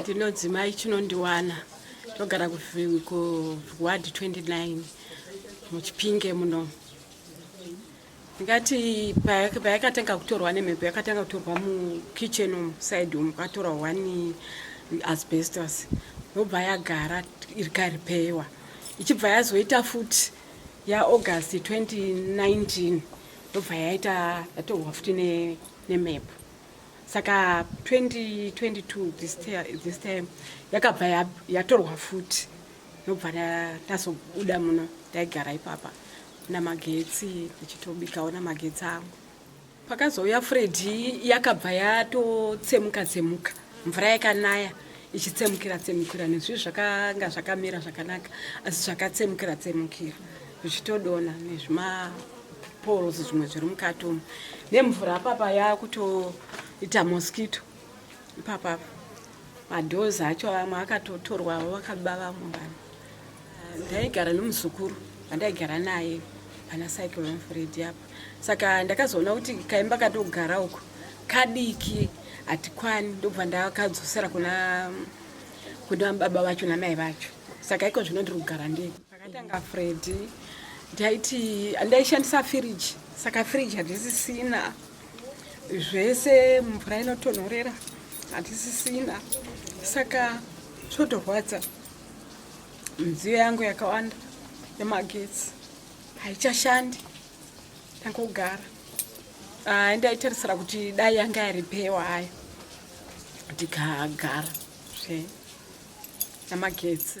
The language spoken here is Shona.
ndinodzimai chinondiwana togara kuward 29 muchipinge muno ngati payakatanga kutorwa nemhepo yakatanga kutorwa mukitchen umu side umu kwatora one asbestos yobva yagara ikaripewa ichibva yazoita futi yaaugust 2019 yobva yaita yatorwa futi nemhepo saka 2022 this time yakabva yatorwa futi ndobva tazobuda muno taigara ipapa namagetsi ndichitobikawo namagetsi angu pakazouya fredhi yakabva yatotsemuka tsemuka mvura yakanaya ichitsemukira tsemukira nezvii zvakanga zvakamira zvakanaka asi zvakatsemukira tsemukira zvichitodona nezvimaporosi zvimwe zviri mukati umu nemvura papa yakutoita mosquito ipapa madoors acho amwe akatotorwa avo vakaba vamwe vanhu ndaigara nomuzukuru vandaigara naye pana cycle mfredi apa saka ndakazoona kuti kaimba katogara uko kadiki hatikwani ndobva ndakadzosera kuna kuna baba vacho namai vacho saka iko zvino ndiri kugara ndii Akatanga Freddy ndaiti ndaishandisa firiji saka firiji handisisina zvese mvura inotonhorera handisisina saka zvotorwadza midziyo yangu yakawanda yemagetsi haichashandi ndangogara ah, ndaitarisira kuti dai yanga yaripewa hayo ndikagara zve namagetsi